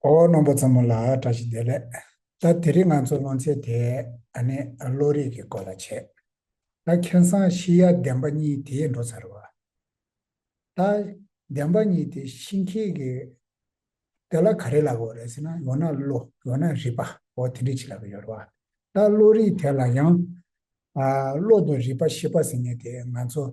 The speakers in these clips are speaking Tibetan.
ཨོ་རྣོན་པོ་ཙམ་མོ་ལ་བཀྲ་ཤིས་བདེ་ལེགས། ད་དེ་རིང་ང་ཚོ་སློང་ཚེ་དེ་ཨ་ནེ་བློ་རིག་གི་སྐོར་ལ་བྱས། ད་མཁན་བཟང་བཞི་ཡ་བདེན་པ་གཉིས་དེ་འགྲོ་ཚར་བ། ད་བདེན་པ་གཉིས་དེ་ཤིང་ཁྱི་གི། དེ་ལ་ག་རེ་ལབ་བོ་རེད་ཟེར་ན་ཡོང་ན་བློ་ཡོང་ན་རིག་པ་བོ་དེ་འདྲས་བྱེད་ལབ་པ་ཡོད་རེད་བ། ད་བློ་རིག་དེ་ལ་ཡང། བློ་དང་རིག་པ་ཤེས་པ་ཟེར་ནི་དེ་ང་ཚོ།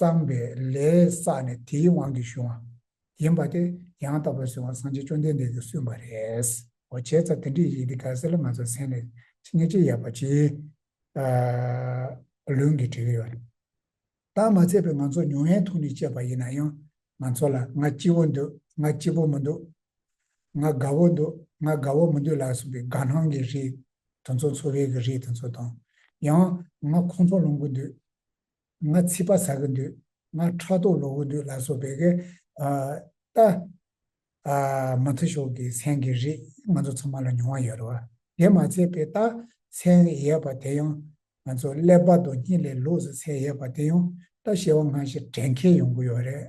བསམས་པས་ལས་བསགས་ནས་དེའི་དབང་གིས་བྱུང་བ་ཡིན་པ་དེ་ཡང་དག་པར་གཟུང་བ་སངས་རྒྱས་བཅོམ་ལྡན་འདས་ཀྱིས་གསུངས་པ་རེད། འོ་བྱས་ཙང་དེ་འདྲའི་ཡིད་འདི་དགའ་སེ་ལ་ང་ཚོ་ཟན་ལས་ཅི་ཉེས་ཅི་ཡག་པ་ཅི། ལུང་གིས་བྲིས་ཡོད། བརྟག་མ་ཚད་པའི་ང་ཚོ་མྱོང་ཡའི་ཐུགས་ནས་དཔྱད་པ་ཡིན་ན་ཡང་ང་ཚོ་ལ་ང་སྐྱིད་བོ་འདུག་ང་སྐྱིད་པོ་མི་འདུག་ང་དགའ་བོ་འདུག་ང་དགའ་བོ་མི་འདུག་ལ་གསུངས་པའི་དགའ་སྣང་གི་རིགས་དེ་ཚོ་འཚོ་བའི་གི་རིགས་དེ་ཚོ་དང། ཡང་ང་ཁོང་ཚོ་ལོངས་གུ་འདུག་ང་ཚིག་པ་ཟ་གི་འདུག་ང་ཕྲག་དོག་ལོག་གི་འདུག་ལ་སོགས་པའི་གི་ལྟ་མ་ཐུ་ཤོག་གི་མཚན་གི་རིགས་ང་ཚོ་ཚང་མ་ལ་མྱོང་བ་ཡོད་རེད་བ། དེ་མ་ཚད་པའི་ལྟ་མཚན་ཡས་པ་དེ་ཡང་ང་ཚོ་ཀླད་པ་དང་སྙིང་ལས་ལོགས་སུ་ཚད་ཡས་པ་དེ་ཡང་ལྟ་ཤེས་བ་སྔ་ཞིག་དྲན་མཁས་ཡོང་གི་ཡོད་རེད།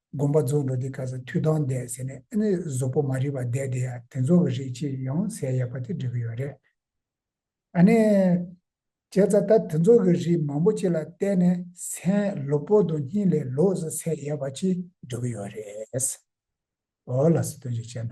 དགོངས་པ་རྫོགས་འགྲོ་དེ་ག་ས་མཐུ་དང་ལྡན་ཟེར་ནས་ཨེ་ནས་ཟོག་པོ་མ་རིག་པ་བསྡད་དེ་ཡ་དེ་ཚོ་གི་རིགས་ཅི་ཡང་ཟས་ཡག་པ་དེ་འབྲི་གི་ཡོད་རེད་ཨ་ནས། བྱས་ཙ་ད་དེ་ཚོ་གི་རིགས་མང་པོ་ཅིག་ལ་བལྟས་ནས་སེམས་ལོ་པོ་དང་གཉིད་ལས་ལོག་ས་ཟས་ཡག་པ་ཅི་འབྲི་གི་ཡོད་རེད། ཨོ་ལགས་སུ་དོན་ཅིག་བྱས་ན།